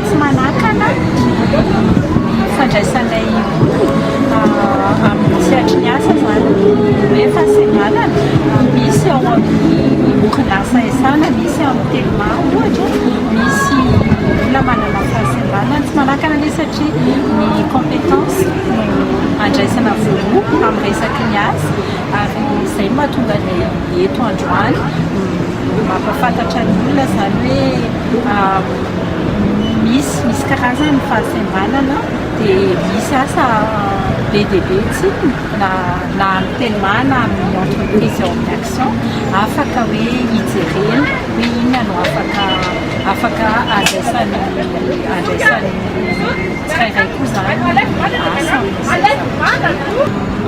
Tsy manakana ny fandraisanay olona amin'ny sehatry ny asa izany hoe fahasembanana. Misy ao amin'ny orinasa Esana, misy amin'ny Telma ohatra, misy olona manana fahasembanana. Tsy manakana anie satria ny compétence no andraisana voaloha amin'ny resaky ny asa ary izay no mahatonga anay eto androany. Mampahafantatra ny olona izany hoe misy misy karazany ny fahasembanana dia misy asa be dia be tsy na na amin'ny telma na amin'ny entreprise ao amin'ny action afaka hoe hijerena hoe inona no afaka afaka andraisan'ny andraisan'ny tsirairay koa izany ny asa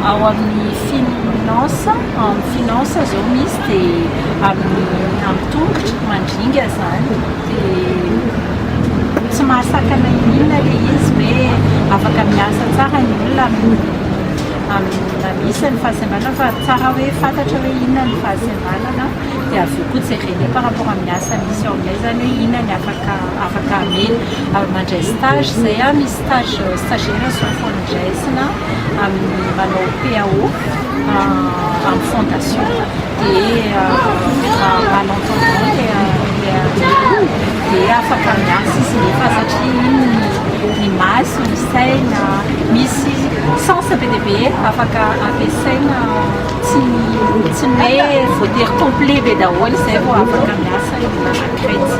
ao amin'ny finance amin'ny finance izao misy dia amin'ny amin'ny tongotra mandringa zany dia tsy mahasakana inona le izy hoe afaka miasa tsara ny olona amin'ny amin'ny misy ny fahasembanana fa tsara hoe fantatra hoe inona ny fahasembanana dia avy eo koa jerena par rapport amin'ny asa misy ao aminay zany hoe inona ny afaka afaka amena mandray stage zay a misy stage stagiaire sy mifanadraisina amin'ny mpanao PAO amin'ny fondation dia manao dia afaka miasa sy nefa satria ny maso ny saina misy sens be dia be afaka ampiasaina tsy tsy ny hoe voatery complet be daholo izay vao afaka miasa ny manankraitsy